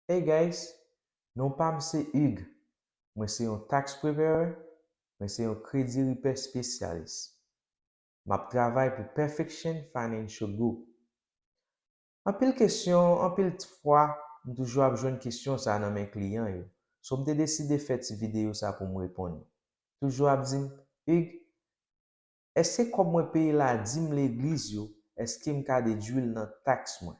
Hey guys, non pam se Hugues, mwen se yon tax preparer, mwen se yon kredi ripè spesyalis. Map travay pou Perfection Financial Group. Anpil kesyon, anpil t fwa m toujou ap jwenn kesyon sa nan men kliyan yo, so m te deside fè ti videyo sa poum reponn yo. Toujou ap dim, Hugues, eske kòb mwen peye la dim legliz yo, eskem ka dedwil nan tax mwen?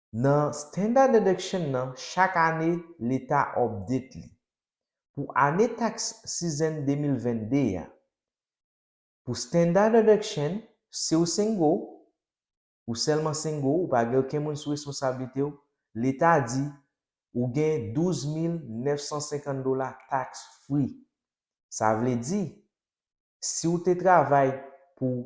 Nan Standard Deduction nan chak ane leta update li. Pou ane tax season 2022 a, pou Standard Deduction, si w single, ou sèlman single, ou pa gen oken moun sou responsablite w, leta di ou gen 12950 dola tax free. Sa vle di, si w te travay pou.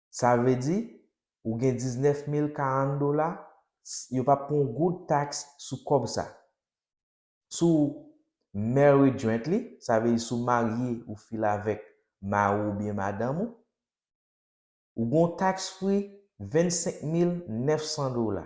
Sa vle di, ou gen 19 mil 40 dola, s, yo p ap pran yon goud taks sou kòb sa. Si w married jointly, sa vle di si w marye ou file avèk mari w oubyen madanm ou, ou gen yon tax free 25 mil 900 dola.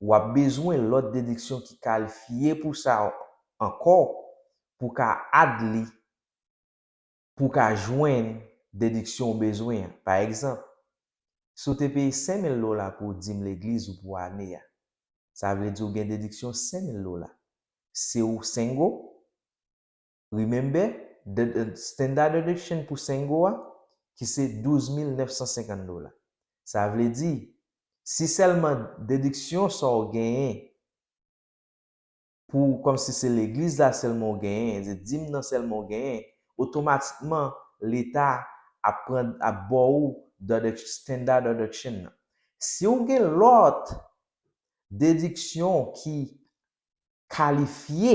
w ap bezwen lòt dediksyon ki kalifye pou sa ankò pou w ka add li pou w ka jwenn dediksyon ou bezwen an. Pa egzanp, si w te peye 5000 dola pou dim legliz ou pou ane a, sa vle di ou gen dediksyon 5000 dola. Si w single, Remember, the standard of exchange pou 5 goud a, ki se 12950 dola. Sa vle di, si sèlman dediksyon sa w genyen pou kòm si se legliz la sèlman w genyen, se dim nan sèlman w genyen, otomatikman leta ap pran ap ba w the standard of exchange nan. Si w gen lòt dediksyon ki kalifye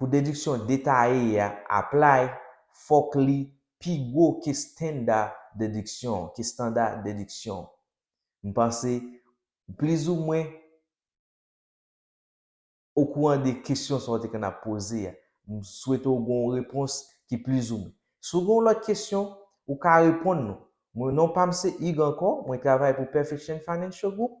Pou dediksyon detaye a apply, fòk li pi gwo ke standa dediksyon, ke standa dediksyon. M panse ou plizoumwen okouran de kesyon sa w te konn ap poze a. M swete w gen yon repons ki plizoumwen. Si w gen yon lòt kesyon, ou ka reponn nou. Mwen non pa m se Hugues ankò, mwen travay pou Perfection Financial Group,